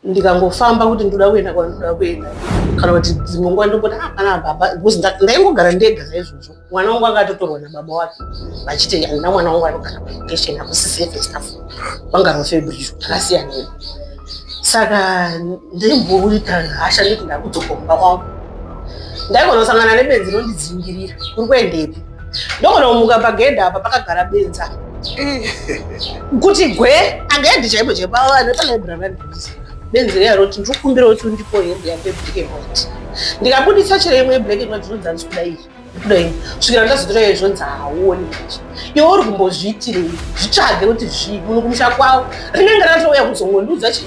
ndikangofamba kuti ndoda kuenda kwandoda kuenda kana kuti dzimwe nguva ndomboti apana ah, baba because ndaingogara ndega saizvozvo mwana wangu akatotorwa nababa wake vachiti andina mwana wangu anogara paetation akusisefe staff vangarofebrizvo takasiyana saka ndaimboita hasha nditi ndakudzokomba kwangu ndaigona kusangana nebenzi rondidzingirira kuri kuendepi ndogona kumuka pagedhe apa pakagara benza kuti gwe anga yadhi chaipo chaipo ava vane palibrary vandiisa benzi riya roti ndiri kukumbira kuti undipo hembe yangu yeblack and white ndikabudisa chero imwe yeblack and white zvinonzi handisi kuda iyi kuda iyi svikira ndazotora iyo zvinonzi hauoni manje iwe uri kumbozviitirei zvitsvage kuti zvii munhu kumusha kwavo rinenge ratouya kuzongondiudza chii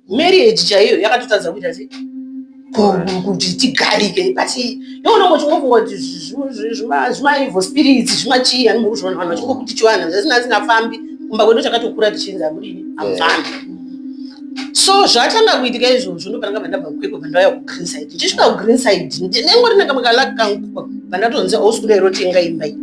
marriage chaiyo yakatotadza kuita sei kuti tigarike but yoonongo chingofunga kuti zvimaevil spirits zvimachii ani muri kuzviona vanhu vachingokuti chivanhu zvasina asingafambi kumba kwedu takatokura tichinzi amudini amufambi so zvatanga kuitika izvozvo ndopananga vandabva kukwekwe vandauya kugreen side ndichisvika kugreen side ndinengo rinaka makalaki kangu vandatonzi ausi kuda irotenga imba iyi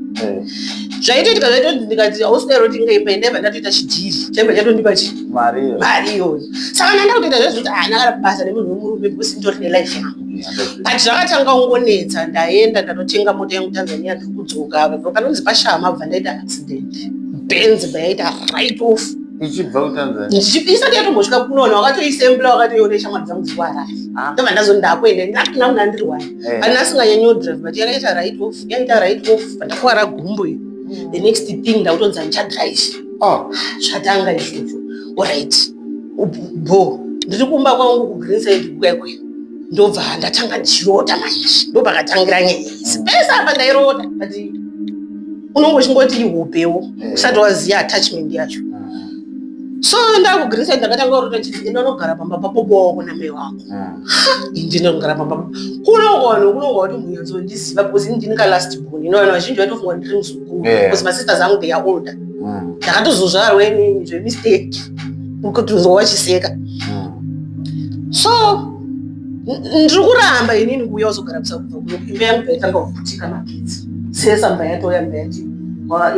zvaiitoitika zvaitoti ndikati ausi kuda irotenga imba iyi ndaibva ndatoita chidhiri chaibva chatondipa chii Mario. Mario. Saka nanda kutoita zvezvekuti haana kana basa nemunhu wemurume because nditori nelife yangu. But zvakatanga kungonetsa ndaenda ndatotenga mota yangu Tanzania ndiri kudzoka apo panonzi pashama bva ndaita accident. Benz bva yaita right off. Ichibva kuTanzania. Isati yatombosvika kunoona wakatoisembla wakatoiona ishamwari dzangu dziri kuharare. Ah. Ndobva ndazo ndakuenda ndakuna kuna ndiri wani. Eh. Kana asinganyanyo drive but yakaita right off yaita right off ndakuwara gumbo iyo. Hmm. The next thing ndakutonzi handichadrive. ah. zvatanga izvozvo orit bo ndiri kumba kwangu kugrinside kwekwe ndobva ndatanga ndichirota maizvi ndopakatangira nyaya izi pese apa ndairota but unongo chingoti ihopewo eh. usati waziva attachment yacho hmm. so ndakugrinside ndakatanga kurota chii enda unogara pamba papopowa kuna mai wako indi hmm. ndinogara pamba kunongoano kunonga kuti munyanzondiziva because ndini kalast bon inoana vazhinji vatofunga ndiri muzuu yeah. because masisters angu they are older mm. ndakatozozvarwa inini zvemistake kutozwa vachiseka mm. so ndiri kuramba inini kuuya uzogara kusakubva kuno imba yangu baitanga kuputika magetsi sesa mba yatoya mba yati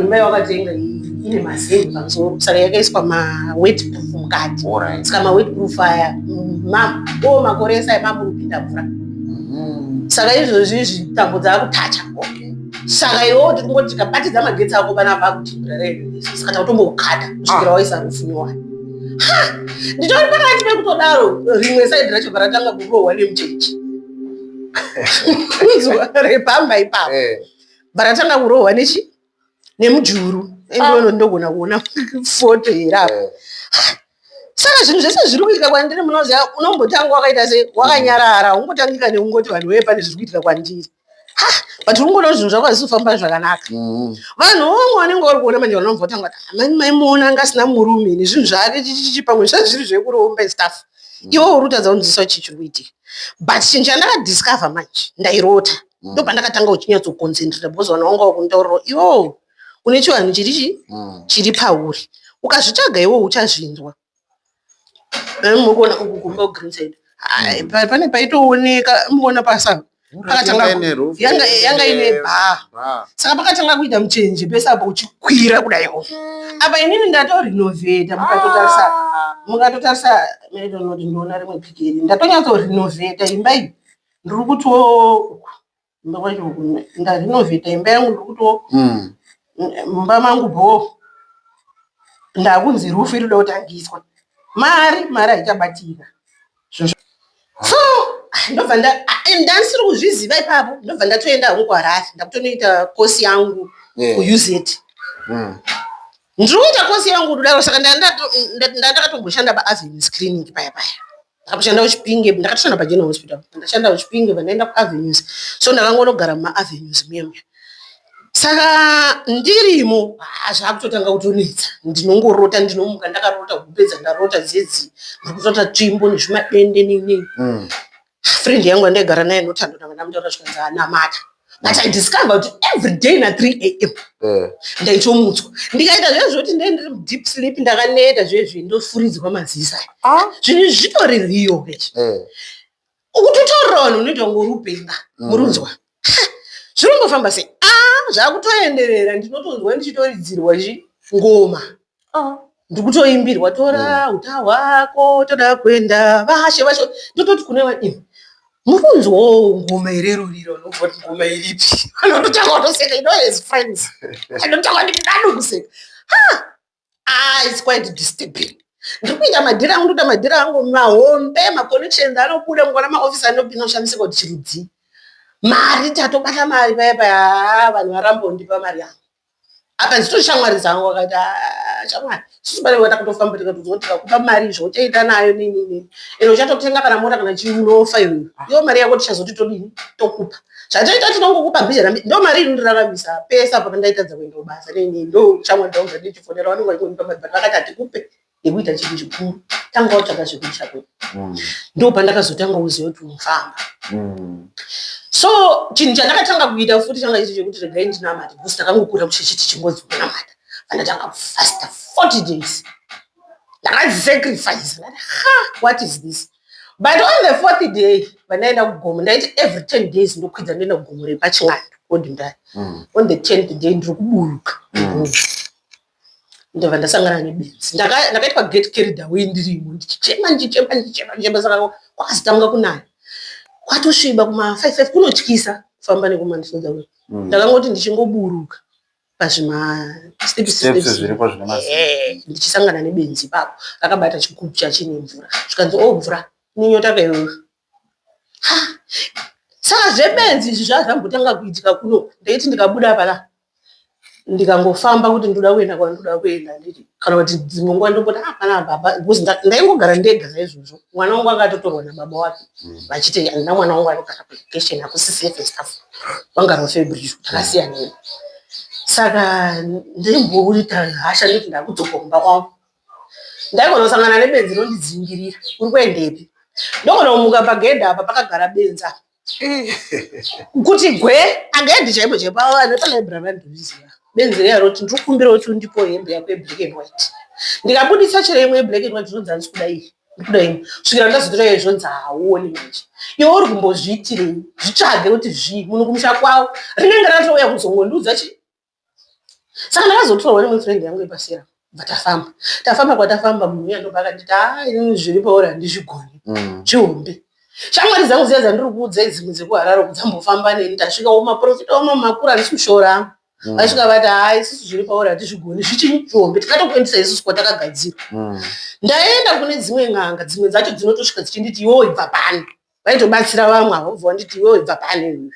imba yawakatenga ine mazenge pamusoro saka yakaiswa mawetproof mukati saka mawetproof aya o makore esai mamurupinda mvura mm-hmm. saka izvozvi izvi tambo dzaakutacha okay saka iwewo tiri kungoti tikabatidza magetsi ako vana vakutimbraraisaa kana kutombokukata kusvikira ah. waisa rufu nyowani nditori pakati pekutodaro rimwe saidi racho varatanga kurohwa nemuchechi zuva repamba ipapo eh. varatanga kurohwa nechi nemujuru endono ah. ndogona kuona foto here apo eh. saka zvinhu zvese zviri kuitika kwandiri munoziva unombotanga wakaita se wakanyarara ungotangika neungoti vanhu wee pane zviri kuitika kwandiri but unongoona kuti zvinhu zvako hazvisi kufamba zvakanaka mm. vanhu vamwe vanenge vari kuona manje vanobva vatanga kuti ah, mani maimuona anga asina murume ine zvinhu zvaake chichichi pamwe zvisati zviri zvekuromba istaff mm. iwo uri kutadza kunzisa chii chiri kuitika but chinhu chandakadiscover manje ndairota mm. ndo pandakatanga uchinyatsokonzentrata because vanhu vanga vakundauriro iwo une chivanhu chirichi chiri pauri ukazvitsvaga iwo uchazvinzwa Mukuona uku kumba ku green side Hai, pa- pane paitooneka mukuona pasa pakatanga Yanga ine roof. yanga yanga ine bhaa Bhaa. saka pakatanga kuita muchenje pese apo uchikwira kudaiwo apa inini ndatorinovheta mukatotarisa mukatotarisa meridonoti ndoona rimwe pikiri ndatonyatso rinovheta imba iyi ndiri kutoo ndarinovhita imba yangu ndokuto mm. mumba mangu bhoo ndakunzi rufu iri kutangiswa mari mari haichabatika so ndobva ndandisiri kuzviziva ipapo ndobva ndatoenda hangu kuharare ndakutonoita kosi yangu kuuz mm. ndiri kuita kosi yangu kudaro saka ndandakatomboshanda paavenue screening paya paya ndakatoshanda kuchipinge ndakatoshanda pageneral hospital ndashanda kuchipinge pandaenda kuavenues so ndakangonogara mumaavenues muyemya saka ndirimo zvakutotanga kutonetsa ndinongorota ndinomuka ndakarota kupedza ndarota dzedzi ndikutota tsvimbo nezvimadende neinei mm. friend yangu andaigara naye notando ndanga ndamutaura zvikanzi anamata but i discover kuti every day na 3 am eh. ndaitomutswa ndikaita zve zvekuti ndee ndiri deep sleep ndakaneta zvezvi ndofuridzwa mazisa ah. zvinhu zvitori riyo vechi eh. ukuti utorira vanhu unoita kunge uri upenga mm. murunzwa zvinombofamba sei a ah, zvakutoenderera ndinotonzwa ndichitoridzirwa chi ngoma ah, ndikutoimbirwa tora mm. uta hwako toda kuenda vashe vashe ndototi kune vaimi mukunzwawo ngoma here ruriro nobvoti ngoma iripi anototanga kutoseka ino as friends anotanga kuti ndadu kuseka ah, its quite disturbing ndiri kuita madhira angu ndoita madhira angu mahombe maconnections anobuda mukona maofisi anopinda kushandisika kuti chirudzii mari tatobata mari paya paya ah, vanhu varambondipa mari yangu akazito shamwari dzangu akati ah, shamwari sisi pane vana kutofamba tikatoziva kuti tikakupa mari izvo uchaita nayo nini nini ende uchatotenga kana mota kana chii unofa iyoyo ah. iyo mari yako tichazoti todini tokupa zvataita tinongokupa bhizha rami ndo mari inondiraramisa pese apo pandaitadza kuenda kubasa nini ndo shamwari dzangu dzandichifonera vanenge vachingonipa mari but vakati hatikupe yekuita chinhu chikuru tanga watsvaga zvekuita kwedu mm. ndo pandakazotanga kuziva kuti unofamba mm. so chinhu chandakatanga kuita futi changa chiri chekuti regai ndinamata because ndakangokura kuchechi tichingozi kunamata pandatanga kufasta 40 days ndakazisacrifice ndati ha what is this but on the fourth day vandaenda kugomo ndaiti every ten days ndokwidza ndoenda kugomo repachin'ando kodimdai mm. on the tenth day ndiri kuburuka mm. ndobva ndasangana nebenzi ndakaitwa gate carrier away ndirimo ndichichema ndichichema ndichichema ndichichema saka kwakazotanga kunaya kwatosviba kuma five five kunotyisa kufamba nekumandisoda uyu mm. ndakangoti ndichingoburuka pazvima eh, ndichisangana nebenzi ipapo rakabata chigubhu chachine mvura zvikanzi o oh, mvura ninyota kaiwewe saka zvebenzi izvi zvaa zvambotanga kuitika kuno ndaiti ndikabuda pana ndikangofamba kuti ndoda kuenda kwandoda kuenda nditi kana kuti dzimwe nguva ndomboti ah pana baba because nda- ndaingogara ndega saizvozvo mwana wangu akatotorwa nababa wake vachiti handina mwana wangu anogara kulocation hakusisefe stuff vangaro febridge takasiyanei saka ndaimbouita hasha ndoti ndakudzoka kumba kwangu Ndaigona kusangana nebenzi rondidzingirira. Uri kuendepi? Ndogona kumuka pagedhi apa pakagara benzi apa. Kuti gwe agedhi chaipo chaipo avo vane palaibhurari vandiziva. Benzi riya roti ndiri kukumbira kuti undipo hembe yako yeblack and white. Ndikabudisa chero imwe yeblack and white zvinonzi handisi kuda iyi. Ndikuda imwe. Svikira ndazotora iyo zvonzi hauoni manje. Iwe uri kumbozviitirei? Zvitsvage kuti zvii munhu kumusha kwavo. Rinenge ratouya kuzongondiudza chi Saka ndakazotorwa neimwe friend yangu yepasera bva tafamba tafamba kwatafamba munhu uya ndobva akanditi haa inini zviri pauri handizvigoni mm. zvihombe mm. shamwari dzangu dziya dzandiri kuudza idzimwe dzekuharare uku dzambofamba neni tasvika umaprofita uno makura handisi kushora angu mm. vasvika vati haa isusu zviri pauri hatizvigoni zvichinyi zvihombe tikatokuendesa isusu kwatakagadzira mm. ndaenda kune dzimwe n'anga dzimwe dzacho dzinotosvika dzichinditi iwewo ibva pani vaitobatsira vamwe avo bva wanditi iwewo ibva pani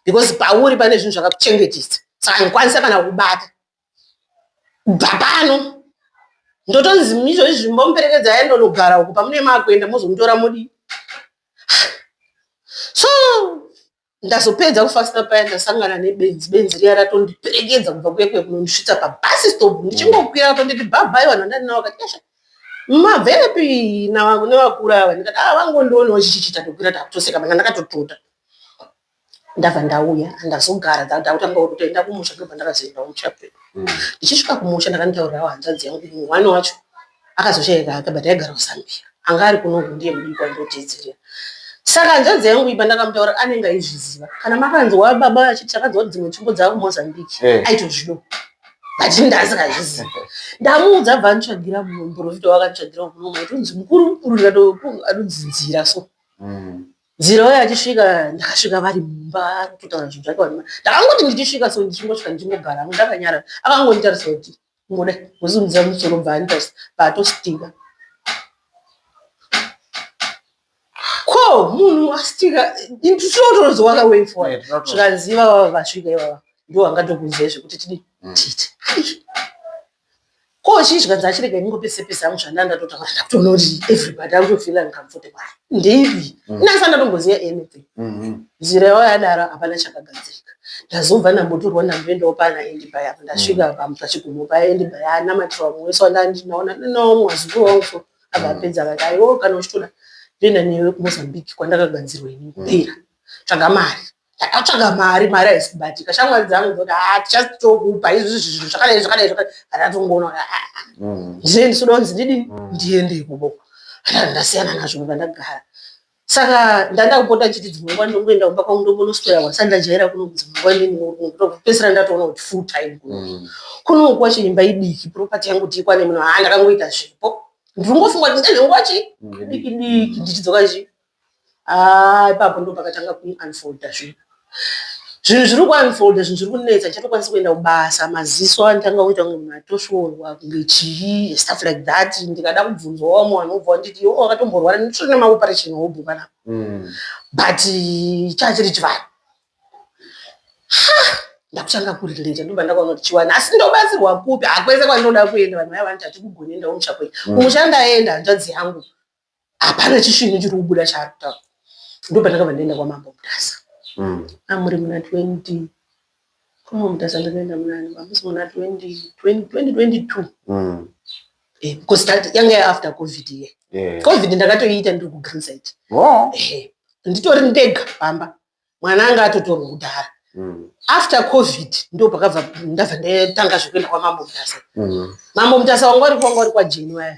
because pauri pane zvinhu zvakakuchengetisa saka ndikwanisa kana kubata kubva pano ndotonzi mizvo izvi zvimbomuperekedza aye ndonogara uku pamune maakuenda mozomutora mudii so ndazopedza kufasta paya ndasangana nebenzi benzi riya ratondiperekedza kubva kuye kuye kunondisvitsa pabasi stop ndichingokwira apo nditi bhabhai vanhu vandandina vakati esha mabvepi nevakura ava ndikati a ah, vangondionawo chichichita tokwira takutoseka mana ndakatotota Ndabva ndauya ndazogara ndakutanga kutoenda kumusha ndobva ndakazoenda kumusha kwedu. Ndichisvika kumusha ndakandotaurirawo hanzvadzi yangu kuti muhwani wacho akazoshaika hake but aigara kuZambia. Anga ari kuno uku ndiye mudiki wandinoteedzerera. Saka hanzvadzi yangu iyi pandakamutaurira anenge aizviziva. Kana makanzwa baba vachiti takanzwa kuti dzimwe tsvimbo dzava kuMozambique Eh. aitozvido. But ini ndandisingazvizivi. Ndamuudza abva anditsvagira muporofita wakanditsvagirawo kuno kuti unzi mukuru mukuru ndikati anonzi nzira so. Mm. Nzira uye achisvika ndakasvika vari mumba kutaura zvinhu zvake wadima ndakangoti ndichisvika so ndichingosvika ndichingogara hangu ndakanyarara akangonditarisa kuti ngoda kusimudza musoro bva anditarisa paatostika ko munhu astika tinotonzi wakawei fo zvikanzi ivava vasvika ivava ndo vangatokunzei zvekuti tidii mm. titi Ko uchidya dzachirega ingo pese pese hangu zvandanga ndatotaura ndakutoona kuti everybody akutofeela ndicomfortable hai ndeipi mm. inasana ndatomboziva anything mm-hmm. nzira yawo yadaro hapana chakagadzirika ndazobva ndambotorwa ndamboendawo pana endi paya ndasvika mm. pamu pachigumo paya endi paya anamatirwa mumwe wese wandandinaona ndinawo mwazukuru wangu so akapedza mm. vakaiwo oh, kana uchitoda toenda newe kumozambique kwandakagadzirwa ini kupera tsvaga mari takatsvaga mari mari haisi kubatika shamwari dzangu dzoti ha tichasi tokupa izvi zvinhu zvakadai zvakadai zvakadai hatatongoona kuti aa ndine ndisi donzi ndidi ndiende ikubo ndasiyana nazvo kuva ndagara saka ndanda kupota chiti dzimwe nguva ndongoenda kumba kwangu ndombonoswera kwandisati ndajaira kuno dzimwe nguva ndinopedzisira ndatoona kuti full time kuno mm. kunoku wacho imba idiki property yangu tiikwane muno haa ndakangoita zvipo ndiri ngofunga kuti ndezvenguva chii mm. diki diki ndichidzoka chii Haa ipapo ndopakatanga ku unfolder zvinhu zvinhu zviri ku unfolder zvinhu zviri kunetsa ndichatokwanisa kuenda kubasa maziso anotanga kuita kunge munhu atosvorwa kunge chii stuff like that ndikada kubvunzwa wamwe vanhu vobva vanditi iwe wakatomborwara nditori nema operation hobho panapa Mm. but chaa chiri chivanhu Ha! ndakutanga kurelate ndobva ndakaona kuti chivanhu asi ndobatsirwa kupi hakwese kwandinoda kuenda vanhu vaya vanoti hatikugonenda kumusha kwenyu kumusha ndaenda hanzvadzi yangu hapana chisvinu chiri kubuda chaari kutaura ndo pandakabva ndaenda kwamambo mutasa mm. amuri muna 20 kwamambo mutasa ndakaenda munani mamusi muna 2022 mm. eh, because that yanga yaafter covid ye yeah. covid ndakatoiita ndiri kugrinside oh. eh, nditori ndega pamba mwana anga atotori mudhara mm. after covid ndo pakabva ndabva ndatanga zvekuenda kwamambo mutasa mm. mambo mutasa wanga uri kwanga uri kwajeni waya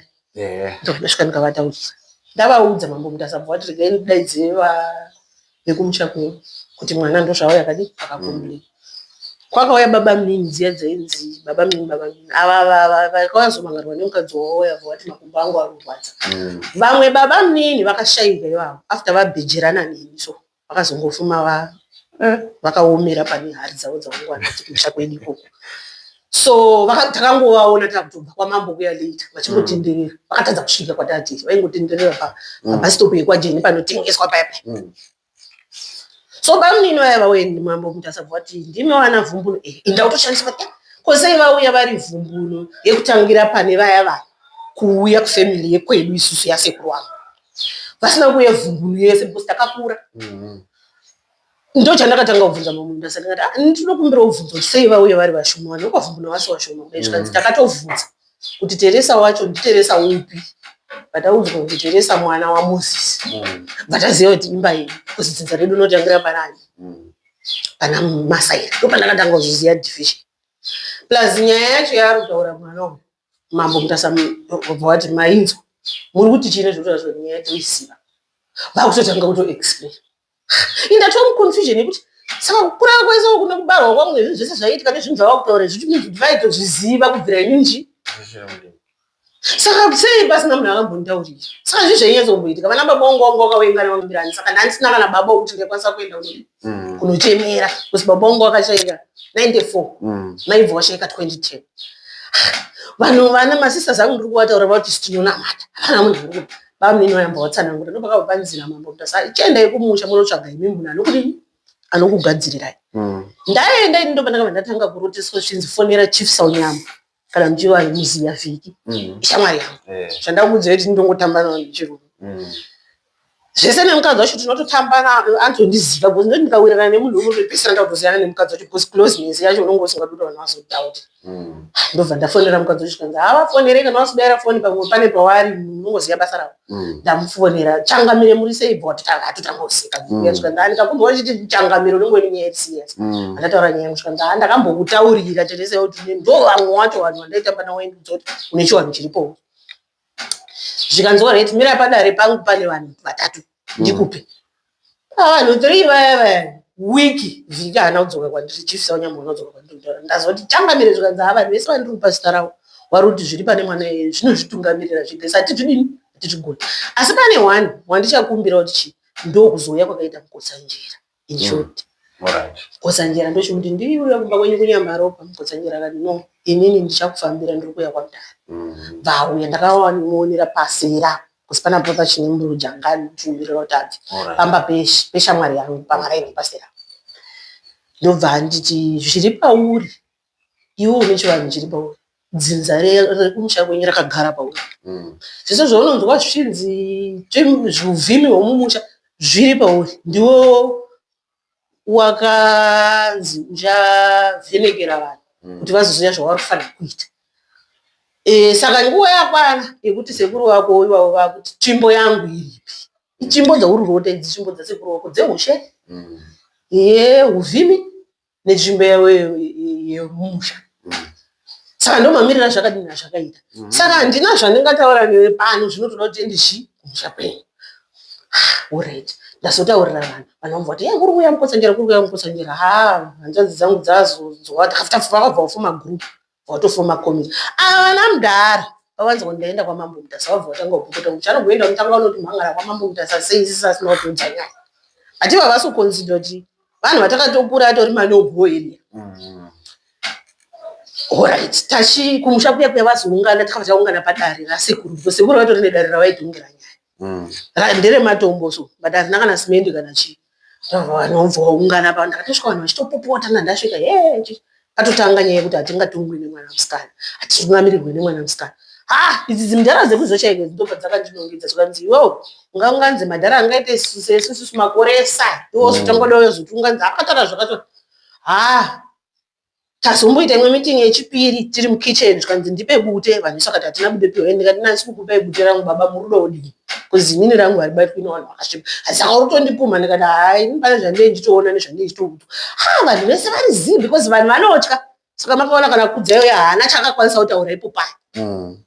ndokudasvika ndikavataurisa ndavaudza mambo mutasa bva vati regai ndidaidze vekumusha kwedu kuti mwana ndozvavo yakadi akakomplei mm. Kwakauya babamunini dziya dzainzi babamunini babamunini ava ava vakazomangarwa nemukadzi wavo vauya vati makumbo angu anorwadza mm. vamwe mm. babamunini vakashaivha ivavo after vabhejerana neni so vakazongofuma va eh, vakaomera pane hari dzavo dzavangwana kumusha kwedu ikoko so takangovaona takutobva kwamambo kuya later vachingotenderera mm. vakatadza kusvika kwatati vaingotenderera pabhasitopu mm. yekwajeni panotengeswa paya paya so bamunini vaya vauye mambo muti asabva wati ndimi vana vhumbuno e eh, inda kutoshandiswa ta kosei vauya vari vhumbuno yekutangira pane vaya vaya kuuya kufamily yekwedu isusu yasekuru wangu vasina kuuya vhumbuno yese because takakura mm-hmm. ndo chandakatanga kubvunza mamunda sati ngati ah, ndinokumbira ubvunzo sei vauya vari vashoma vana ukwavhumbuno vasi vashoma kudai zvikanzi mm-hmm. takatovhunza kuti teresa wacho nditeresa upi vataudzwa kuti teresa mwana wamosisi mm. vataziva kuti imba iyi kuzi dzinza redu unotangira panani mm. pana masairi ndo pandakatanga kuzoziva division plus nyaya yacho yaari kutaura mwana uyu mambo mutasa obva wati mainzwa muri kuti chii nezvekutaura zvenyaya toisiva vakutotanga kutoexplain Ini ndatova muconfusion yekuti saka kukura kwese uku nekubarwa kwangu nezvinhu zvese zvaiitika nezvinhu zvava kutaura izvi means kuti vaitozviziva kubvira ini nji saka sei pasina munhu akambonditaurira saka zvi zvainyatsa kumboitika vana baba wangu wangu wakawaingana vambirani saka ndandisina kana baba wekuti ndaikwanisa kuenda kune mm. kunochemera bcause baba wangu wakashaika 94 mm. maibva washaika 2010 vanhu vana masisters angu ndiri kuvataura vati sitinonamata hapana munhu Bamnini vayamba vatsanangura ndopakabva panzira mambo kuti asa chiendai kumusha munotsvaga imi munhu anokudini anokugadzirirai mm. ndaenda ini ndopandakabva ndatanga kuroteswa zvichinzi fonera chief saunyama kana muchiva ari muziya vhiki mm. ishamwari yangu eh. zvandakuudzira kuti ndongotamba nao nechirume mm. zvese nemukadzi wacho tinototamba antondiziva bcause ndoti ndikawirirana nemunhu umwe pese ndakutoziyana nemukadzi wacho bcause closeness yacho unonge usingadura vanhu vazodoubt Mm. ndobva ndafonera mukadzi wacho chikanzi havafonere kana wasidaira foni pamwe pane pawaari unongoziva basa ravo mm. ndamufonera changamire muri sei bva watitakati tangoseka mm. chikanzi andikakumba wachiti changamire unenge une nyaya iriserious andataura nyaya yangu chikanzi ha ndakambokutaurira teteseyo kuti ndovamwe wacho vanhu vandaitamba nawo endudzi kuti une chiwanhu chiripowo zvikanzi alright mira padare pangu pane vanhu vatatu ndikupe Ah, vanhu three vaya vaya wiki vhiki haana kudzoka kwandiri chief saunyambo haana kudzoka kwandiri kutaura ndazoti changamire zvikanzi ha vanhu vese vandiri kupa zita ravo wari kuti zviri pane mwana iye zvinozvitungamirira zvega saka tizvidini tizvigoni asi pane one wandichakumbira kuti chii ndokuzouya kwakaita mukotsanjera He should. Mm. Alright. Kotsanjera ndochikuti ndiuya kumba kwenyu kunyamaropa mukotsanjera kati no inini ndichakufambira ndiri kuuya kwamdara Mm. vauya ndakaonera pasira kusi pana brother chine mburuja ngandiumirira kuti abve Alright. pamba pesh- peshamwari yangu pamaraini pasira ndobva anditi zviri pauri iwe une chivanhu chiri pauri dzinza rekumusha kwenyu rakagara pauri mm. zvese zvaunonzwa zvichinzi zvivhimi hwemumusha zviri pauri ndiwo wakanzi uchavhenekera vanhu mm. kuti vazoziva zvavari kufanira kuita e, saka nguva yakwana yekuti sekuru vako ivavo vakuti tsvimbo yangu iripi itsvimbo dzauri rote idzi tsvimbo dzasekuru vako dzeushe mm. ye uvhimi netsvimbo yavo yemusha saka ndomamirira zvakadini azvakaita mhm. saka handina zvandingataura newe pano zvinotoda kuti ende chi kumusha kwenyu orit ndazotaurira vanhu vanhu vamva kuti ye kuri kuya mukotsanjera kuri kuya mukotsanjera ha hanzvadzi dzangu dzazonzwa takafutapfupa vakabva vafuma group Watofuma commit. Ava vana mdara vawanza kuti ndaenda kwamambo mutasa wabva watanga kupopota kuti chanogenda kutanga unoti mhangara kwamambo mutasa sei sisi asina kutodza nyaya ati vavasi kuconsider kuti vanhu vatakatokura atori manobho area mm. orit tachi kumusha kuya kuya vazoungana takabva taungana padare rasekuru sekuru vatori nedare ravaitiungira nyaya mm. ndere matombo so but hazina kana simendi kana chii vanobva vaungana pa ndakatosvika vanhu vachitopopota nandasvika he atotanga nyaya yekuti hatingatongwi nemwana musikana hatinamirirwe nemwana musikana ha idzi dzimdhara dzekuzochaiko dzidobva dzakandinongedza zvikanzi iwewo ungaunganzi madhara angaite sesususu makoresa iwo zotangoda uyo zoti unganzi akatara zvakato ha Tazomboita imwe meeting yechipiri tiri mukitchen zvikanzi ndipe bute Vanessa vakati hatina bute piwa ini ndikati nani sikukupai bute rangu baba murudo odii kozi inini rangu haribatwi nevanhu vakasvipa asi saka uri kutondipumha ndikati haa ini pane zvandei ndichitoona nezvandei ndichitoutwa ha vanhu vese vari zii because vanhu vanotya saka makaona kana kudzayo haana chaakakwanisa kutaura ipo paya mm.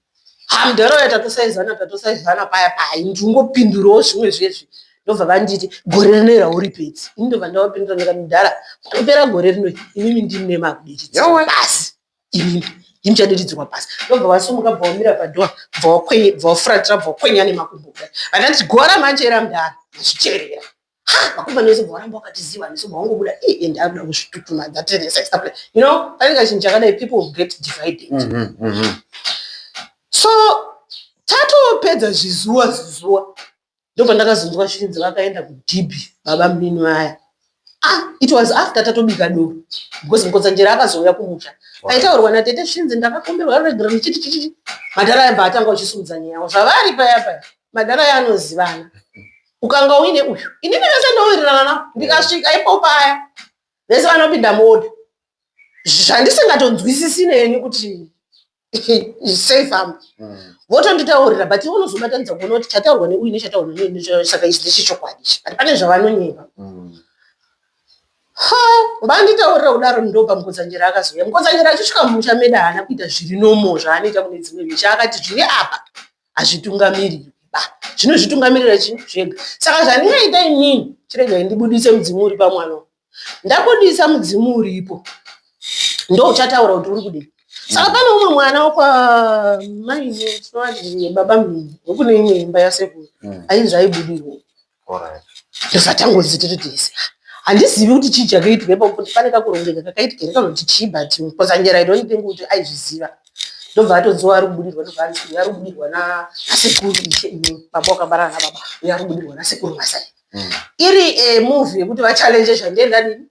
hamdaroya tatosaizana tatosaizana paya paya ndingopindurawo zvimwe zvezvi ndobva vanditi gore rino ira uri pedzi ini ndobva ndavapindura ndikati mudhara panopera gore rino imimi ndini nemakudiridzirwa pasi imimi ndini chadiridzirwa pasi ndobva vasumuka bva wamira padhoa bva wafuratira bva wakwenya nemakumbo kudai vandati gora manje era mudhara zvicherera Ha, makomba nese bwaramba wakatiziva nese bwawangobuda i eh, and akuda kuzvitutuma that is sex play. You know, pane kachinhu chakadai people get divided. Mm -hmm, mm -hmm. So tatopedza zvizuwa zvizuwa ndobva ndakazonzwa shinzi vakaenda kudhibhi baba mnini vaya ah, it was after tatobika doro because mukodzanjera akazouya kumusha aitaurwa natete shinzi ndakakomberwa regera ndichitichichi madhara yabva atanga uchisumudza nyaya yavo zvavari paya paya madhara yaanozivana ukanga uine uyu inini vese ndowirirana navo ndikasvika ipo paya vese vanopinda muoda zvandisingatonzwisisi neni kuti sei famba mm. votonditaurira but ivo unozobatanidza kuona kuti chataurwa neuyu nechataurwa neuyu saka ichi ndechechokwadi ichi but pane zvavanonyeba mm. ha vanditaurira kudaro ndopa mukodzanyera akazouya mukodzanyera achisvika mumusha meda haana kuita zviri nomo zvaanoita kune dzimwe misha akati zviri apa hazvitungamiriri ba zvinozvitungamirira chinhu zvega saka zvandingaita inini chiregai ndibudise mudzimu uri pamwana ndabudisa mudzimu uripo ndouchataura kuti uri kudii saka pane umwe mwana wakwamainebaba mhii wekune imwe imba yasekuru mm. ainzi aibudirwo tobva tangonzi tiri tese handizivi kuti chii chakaitwa ipapo kuti pane kakurongeka kakaitika here kana kuti chii but because anyera i don't think kuti aizviziva ndobva atonziwa ari kubudirwa ndobva anzi uyu ari kubudirwa nasekuru ishe ine baba wakabarana nababa uyu ari kubudirwa nasekuru masai mm. iri eh, movie yekuti vachallenje zvandienda nini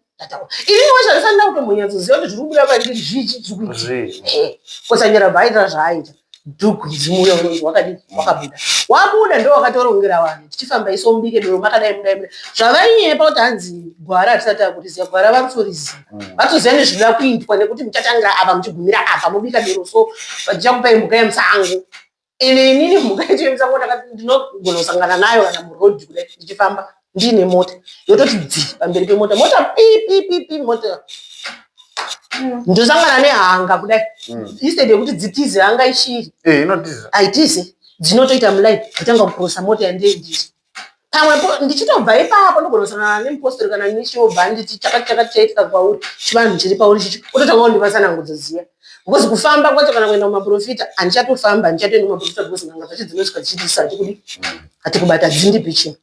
iwe zvaifanira kutombonyatsoziva kuti zviri kubuda kwandiri zvizvi zvikuitikosanyora eh, bhaita zvaaita dhuku mudzimu uya unonzi wakadii wakabuda wabuda ndo wakatorongera vanhu tichifamba iso mubike doro makadai mudai mudai zvavainyepa kuti hanzi gwara hatisati akutiziva gwara varutoriziva mm. vatoziva nezvinoda kuitwa nekuti muchatangira apa muchigumira apa mubika doro so vachichakupai mhuka yemusango Ende inini mhuka yacho yemusango ndakati ndinogona kusangana nayo kana muroad kudai ndichifamba ndiine mota yototi dzi pamberi pemota mota pi pi pi pi mota ndosangana nehanga kudai Mm. instead yekuti dzitize hanga ichiri Eh, inotiza. haitize dzinotoita muline kutanga kukurosa mota yandendiri pamwe ndichitobva ipapo ndogonosangana nemupostori kana nechobva anditi chakati chakati chaitika kwauri chivanhu chiri pauri chichi ototanga kundivatsanangudzo dziya because kufamba kwacho kana kuenda kumaprofita handichatofamba handichatoenda kumaprofita because n'anga dzacho dzinosvika dzichitisa hatikudi hatikubata dzindipi chii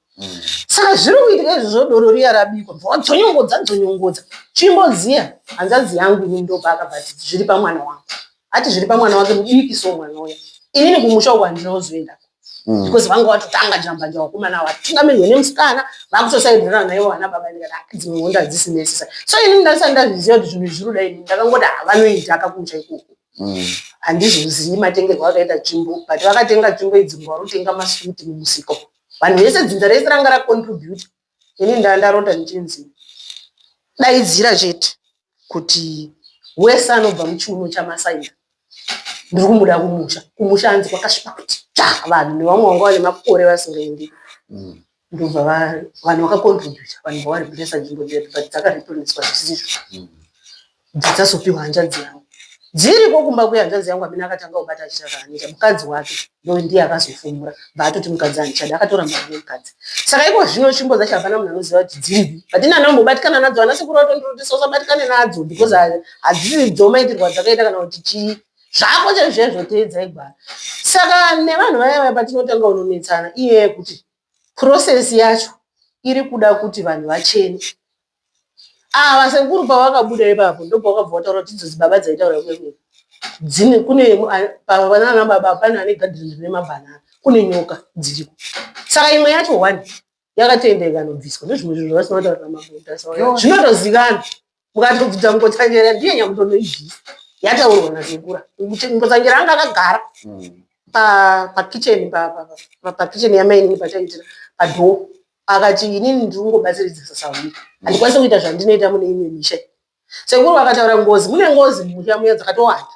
saka zviri kuitika izvo zvodoro riya rabikwa mvura dzonyongodza dzonyongodza chimboziya hanzadzi yangu ini ndopaakabva ati zviri pamwana wangu ati zviri pamwana wake mudiki so mwana uya inini kumusha uku handina kuzoenda mm. because vanga watotanga jambanja wakomana awo vatungamirwe nemusikana vakutosaidhirana naivo vana baba ndikati ah, dzimwe honda hadzisi necessary so inini ndandisati ndazviziva kuti zvinhu zviri kudai inini ndakangoti havanoita ah, akakumusha ikoko mm. handizvizivi matengerwo akaita tsvimbo but vakatenga tsvimbo idzi ngwarutenga masuti mumusiko vanhu vese dzinza rese ranga racontribute ini ndanga ndarota ndichinzi daidzira chete kuti wese anobva muchiuno chamasaina ndiri kumuda kumusha kumusha hanzi kwakasvipa kuti ta vanhu nevamwe vanga vane makore vasingaendi mm. ndobva vanhu vakakontributa vanhu vavari kuresa nzvimbo dzedu but dzakareplaniswa zvisizvo mm. dzichazopiwa hanzvadzi yangu dziriko kumba kuya hanzvadzi yangu amene akatanga kubata achita zvaanoita mukadzi wake ndo ndiye akazofumura bva atoti mukadzi andichada akatora mari nemukadzi saka iko zvino tsvimbo dzacho hapana munhu anoziva kuti dziripi but ini ana umbobatikana nadzo ana sekuru vatondorotesa usabatikane nadzo because hadzisi dzomaitirwa dzakaita kana kuti chii zvako chaizvezvo teedzai gwara saka nevanhu vaya vaya patinotanga unonetsana iye yekuti process yacho iri kuda kuti vanhu vachene Ava sekuru pavakabuda ipapo ndopavakabva vataura kuti idzo dzibaba dzaitaura kwedu dzine kune nana baba pane ane gadhireni rine mabhanana kune nyoka dziriko saka imwe yacho one yakatoenda ikanobviswa ndozvimwe zvinhu zvavasina kutaurira magotas zvinotozikana mukatobvudza mukotsanjera ndiye nyakutonoibvisa yataurwa nasekura mukotsanjera anga akagara mm. pakitchen pakitchen yamainini pataitira padhoo Akati inini ndiri kungobatsiridzisa sahwira handikwanise kuita zvandinoita mune imwe misha iyi. Sekuru vakataura ngozi mune ngozi mumusha muya dzakatowanda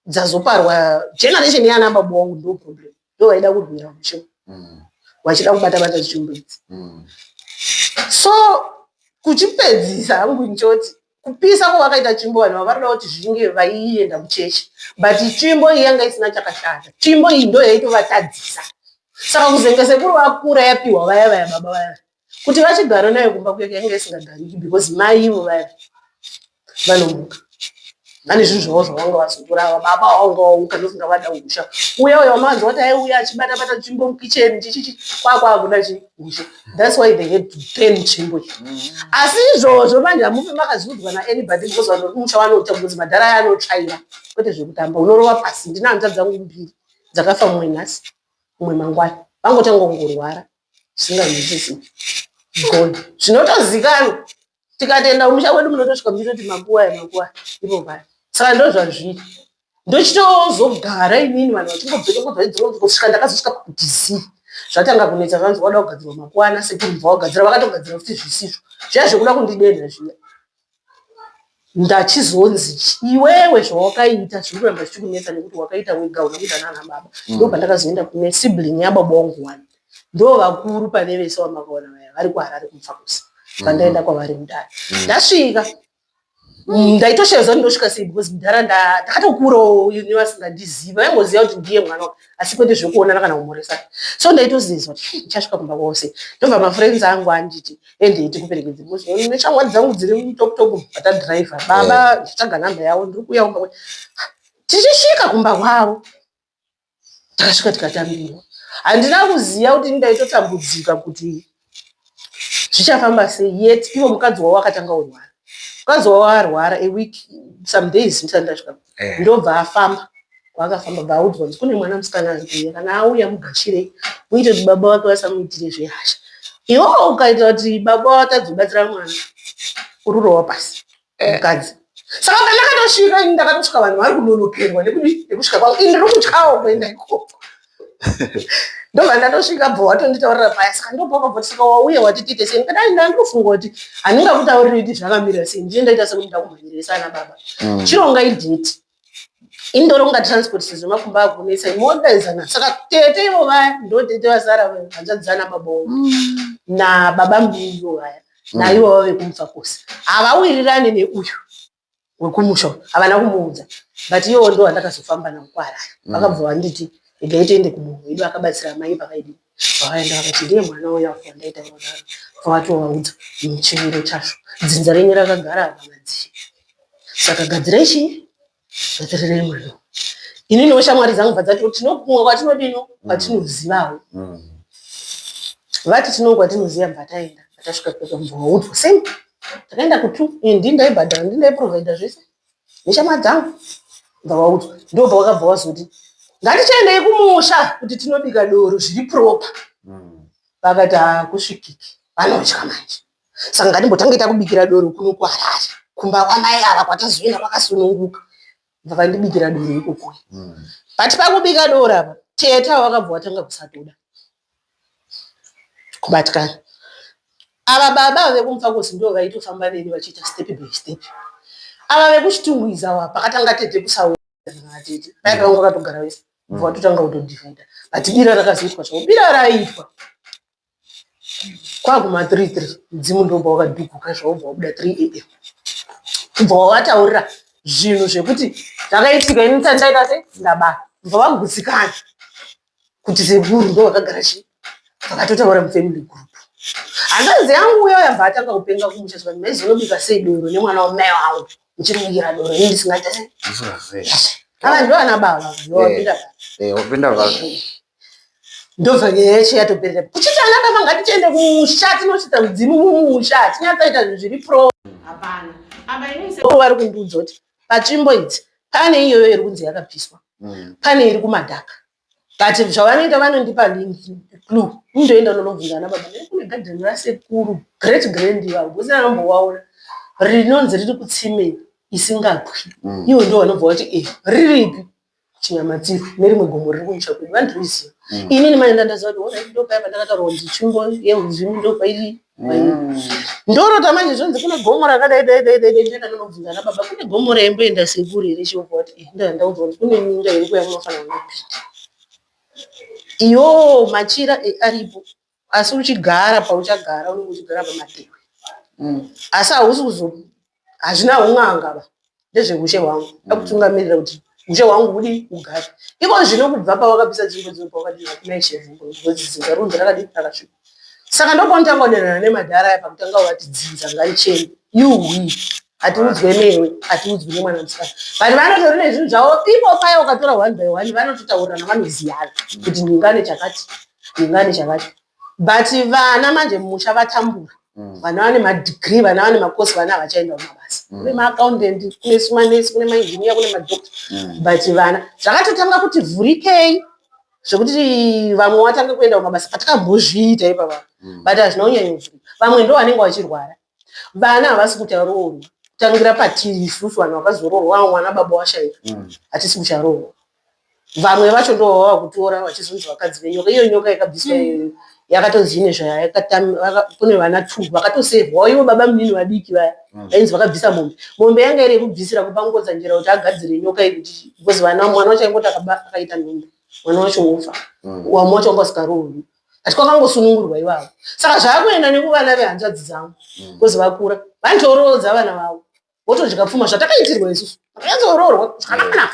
dzazoparwa generation yana baba wangu ndo problem ndo vaida kurwira musha Mm. vachida kubata bata zvichumbo idzi Mm. so kuchipedzisa hangu ndichoti kupisa kwavakaita tsvimbo vanhu ava varikuda kuti zvinge vaienda kuchechi but tsvimbo iyi yanga isina chakashata tsvimbo iyi ndo yaitovatadzisa saka kuzenge sekuru vakura yapiwa vaya vaya baba vaya kuti vachigara nayo kumba kuyake yanga isingagariki because mai ivo vaya vanomuka vane zvinhu zvavo zvavanga vazotora ava baba vanga vauka ndosinga vada usha uya uya wamavanzi wati aiuya achibata bata tsvimbo mukicheni chichichi kwakwakuda chii That's why they had to pay nzvimbo iyi. Asi izvozvo manje hamufi makaziudzwa naanybody because vanhu vekumusha vanoita because madhara aya anotsvaira kwete zvekutamba unorova pasi ndine hanta dzangu mbiri dzakafa mumwe nhasi mumwe mangwana vangotanga kungorwara zvisinganzwisisi gone zvinotozikanwa tikatoenda kumusha kwedu munotosvika muchitoti makuwa aya makuwa aya ivo paya saka ndozvazviri ndochitozogara inini vanhu vachingobveka kobva idzonzi kusvika ndakazosvika pakudizii zvatanga kunetsa zvanzi wada kugadzirwa makwana sekuru bva wagadzira vakatogadzira futi zvisizvo zviya zvekuda kundidenha zviya ndachizonzi iwewe zvawakaita zviri kuramba zvichikunetsa nekuti wakaita wega una kuita nana baba mm. ndo pandakazoenda kune sibling yababa wangu wani ndo vakuru pane vese wamakaona vaya vari kuharare kumfakusa pandaenda mm. kwavari mudare mm. ndasvika ndaitoshaya zva ndinosvika sei because mudhara ndakatokuurawo ine vasingandiziva vaingoziva kuti ndiye mwana asi kwete zvekuonana kana kumhoresana so ndaitozizwa kuti ndichasvika kumba kwose ndobva mafriends angu anditi endei tikuperekedze because one neshamwari dzangu dziri mutop top vatadriver baba ndichitsvaga number yavo ndiri kuuya kumba kwete tichisvika kumba kwavo Takasvika tikatambirwa. Handina kuziva kuti ndaitotambudzika kuti zvichafamba sei yet ivo mukadzi wavo akatanga kurwara. Mukadzi wavo arwara a week some days ndisati ndasvika ndobva afamba kwaakafamba bva audzwa kuti kune mwana musikana ari kuuya kana auya mugashirei muite kuti baba vake vasamuitire zvehasha. Yoo ukaita kuti baba vatadze kubatsira mwana ururowa pasi. eh. mukadzi saka pandakatosvika ini ndakatosvika vanhu vari kunonokerwa nekusvika kwavo ini ndiri kutyawo kuenda ikoko ndobva ndatosvika bva watonditaurira paya saka ndobvakabva saka wauya wati tiite sei ndikadai ndandofunga kuti handingakutauriri kuti zvakamira sei ndine ndaita sekuti ndakumhanyirisa ana baba mm. chironga idheti indoronga transport sezvo makumba akunetsa imodaizana saka tete ivo vaya ndo tete vasara hanzvadzana babao mm. nababa mbiyo vaya mm. naivo vave kumubva kose havawirirane neuyu wekumusha havana kumuudza but iyowo ndo wandakazofamba nawo kwaaraya mm. vakabva vanditi regai tiende kumunhu wedu akabatsira mai pakaidii Vaenda vakati, Ndiye mwana uya uya wandaitaura kudaro. Akabva atovaudza mm, chimiro chacho. Dzinza renyu rakagara apa madzii. Saka gadzirai chii? Gadzirirei mwana uyu. Ininiwo shamwari dzangu bva dzati, tino kumwe kwatinodino kwatinozivawo. Vati tino kwatinoziva bva taenda. Bva tasvika kwedu bva vaudzwa same. Takaenda kutu, indi ndaibhadhara, ndi ndaiprovider zvese. neshamwari dzangu ndawaudzwa ndobva wakabva wazoti ngatichaendei kumusha kuti tinobika doro zviri propa mm. vakati hakusvikiki vanotya manje saka ngatimbotange takubikira doro kuno kuharare kumba kwamai ava kwatazoenda kwakasununguka vakandibikira doro ikokuya mm. but pakubika doro apa teta wakabva watanga kusatoda kubatikana ava baba ava vekumufakosi ndivo vaitofamba neni vachiita step by step ava vekuchitungwiza ava pakatanga tete kusaona tete paiva vanga vakatogara vese bva vatotanga kutodivhaida but bira rakazoitwa chavo bira raiitwa kwaguma 33 mudzimu ndobva wakadhuguka zvavo bva wabuda 3 am kubva wavataurira zvinhu zvekuti zvakaitika ini tandaita se ndabaa bva vagutsikana kuti sekuru ndo vakagara chii vakatotaura mufamily group hanzvanzi yangu uya yabva atanga kupenga kumusha zvikanzi maizi unobika sei doro nemwana wamai wangu muchimubikira doro ini ndisingaita sei ava ndo ana baba ndowapinda eh, wapinda baba eh. ndobva nyaya yacho yatoperera kuchiti ana baba ngatichiende kumusha tinochita mudzimu mumusha tinyatsaita zvinhu zviri pro hapana ava vari kundiudza kuti patsvimbo idzi pane iyoyo iri kunzi yakapiswa mm. pane iri kumadhaka but zvavanoita vanondipa link clu indoenda unonobvunza ana baba nekune gadheni rasekuru great grand vavo kusina anombowaona rinonzi riri kutsimei isingabwi mm. ivo ndo vanobva vati e eh, riripi Chinyamatiro nerimwe gomo riri kumusha kwedu vandiriziva mm. inini mai ndandaziva kuti orit ndopaya pandakataurwa kuti tsvimbo yeuzimi ndopairi mm. ndorota manje zvonzi kune gomo rakadai dai dai dai ndaenda ndonobvunza ana baba kune gomo raimboenda sekuru here chiobva kuti eh, ndaa ndaudzwa kuti kune minga iri kuya munofanira kunopinda iyo machira eh, aripo Asi uchigara pauchagara unenge uchigara pamatehwe mm. asi hausi kuzo hazvina hun'anga ba ndezvehushe hwangu mm. akutungamirira kuti ushe hwangu hudi ugare iko zvino kubva pawakabvisa dzimbo dzino pawakadii hakuna ishevhungo ngozi dzinza runzi rakadii rakasvika saka ndopaunotanga kudanana nemadhara aya pakutanga wati dzinza ngaricheni yuwi hatiudzwe newe hatiudzwi nemwana musikana but vanotori nezvinhu zvavo ipo paya ukatora one by one vanototaurirana vanoziyana kuti ndingane chakati ndingani chakacho but vana manje musha vatambura mm. vana vane madegree vana vane makosi vana havachaenda kumabasa mm. kune maaccountant kune sumanesi kune mainjinia kune madoctor mm. but vana zvakatotanga kuti vhurikei zvekuti vamwe watange kuenda kumabasa patakambozviita ipapa mm. but hazvina kunyanya kuvhurika vamwe ndo vanenge vachirwara vana havasi kucharoorwa kutangira patiri isusu vanhu vakazoroorwa vamwe vana baba washaika mm. hatisi kucharoorwa vamwe vacho ndo vava kutora vachizonzi vakadzi venyoka iyo nyoka yakabviswa mm. iyoyo yakatonzi ine zvayakune vana two vakatosevhwawo ivo baba munini vadiki vaya mm. vainzi vakabvisa mombe mombe yanga iri yekubvisira kupa ngodzanjera kuti agadzire nyoka iyi kuti because vana mwana wacho aingoti akaita nhombe mwana wacho wofa wamwe wacho wanga usikaroorwi ati kwakangosunungurwa ivavo saka zvaakuenda nekuvana vehanzvadzi dzangu bcause mm. vakura vanotoroodza vana vavo votodya pfuma zvatakaitirwa isusu takanyatsooroorwa zvakanaka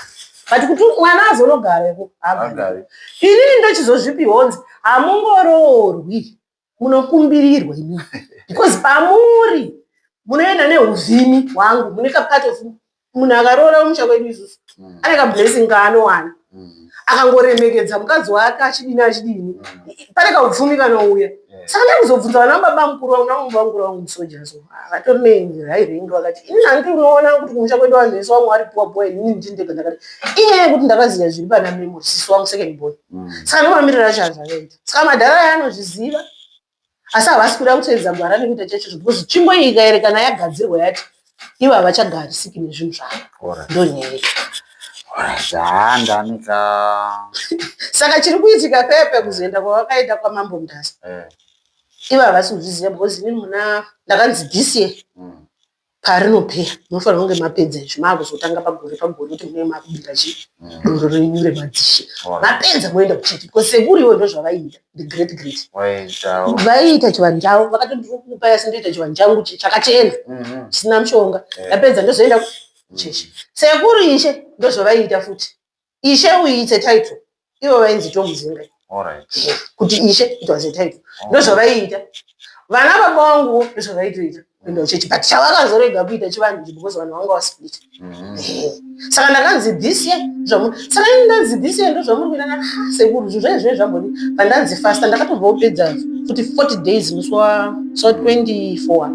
but kuti mwana azonogareko haagari inini ndochizozvipihonzi hamungoroorwi munokumbirirwa imii because pamuri munoenda neuvhimi hwangu mune kapart of munhu akaroora kumusha kwedu isusu mm. ane kablessing kaanowana mm. akangoremekedza mukadzi wake achidini achidini mm. pane kaupfumi kanouya saka ndai kuzobvunza vana baba mukuru vangu navo baba mukuru vangu musoja so vatori nenzira irengi vakati ini hanti unoona kuti kumusha kwedu vanhu vese vamwe vari puwa puwa ini ndindega ndakati inyaya yekuti ndakaziva zviri pana memo sisi wangu second boy saka ndomamirira chaazvakaita saka madhara ayanozviziva asi havasi kuda kutevedza gwara nekuita chaicho because tsvimbo iyi ikaerekana yagadzirwa yati ivo havachagarisiki nezvinhu zvavo ndonyere zvaandanika saka chiri kuitika pepe kuzoenda kwavakaenda kwamambo mudhasa eh. ivo havasi kuzviziva because inini muna ndakanzi this year mm. Parinopera munofanirwa kunge mapedza izvi maakuzotanga pagore pagore kuti munenge makubira chi doro renyu remadzishe Wow. vapedza moenda kuchiti because sekuru ivo ndozvavaiita the great great Waitawo. vaiita chivanhu chavo vakati ndiri kukupai asi ndoita chivanhu changu chi- chakachena Mhm. chisina mushonga Eh. ndapedza ndozoenda ku- chechi sekuru ishe ndozvavaiita futi Ishe uyu it's a title. Ivo vainzi Chomuzinga. Kuti ishe it was a title. Ndozvavaiita. Vana baba vangu ndozvavaitoita. Kuenda kuchechi but chavakazorega kuita chivanhu because vanhu vanga vasplit. Mm-hmm. Eh, saka ndakanzi this year zvamu saka ini ndanzi this year ndozvamuri kuita na ah, sekuru zvizvo izvo zvambodi pandanzi fasta ndakatobva kupedza futi 40 days musi wa so 24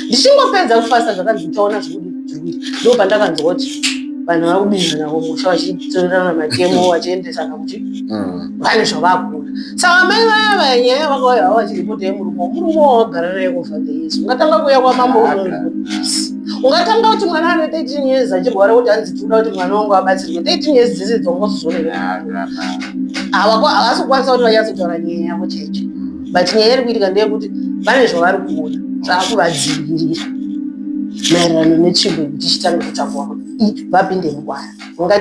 ndichingopedza kufasta zvakanzi uchaona zvekudii ndo pandakanzwa kuti vanhu vari kubinza navo musha vachitorerana matemo mm. vachiendesana kuti mm. vane zvavakuna saka mai vaya vaya nyaya vakauya vava vachiripota yemurume murume wawagara naye kufa the yesu ungatanga kuuya kwamambo unoipoisi ungatanga kuti mwana ane 13 years achirwara kuti hanzi tikuda kuti mwana wangu abatsirwe 13 years dzese dzongozozoreaa havasi kukwanisa kuti vanyatsotaura nyaya yavo chaicho but nyaya iri kuitika ndeyekuti vane zvavari kuona zvaakuvadzivirira maererano netsvimbo yekuti chitanga kutakurwa kuti vapinde mugwara ungati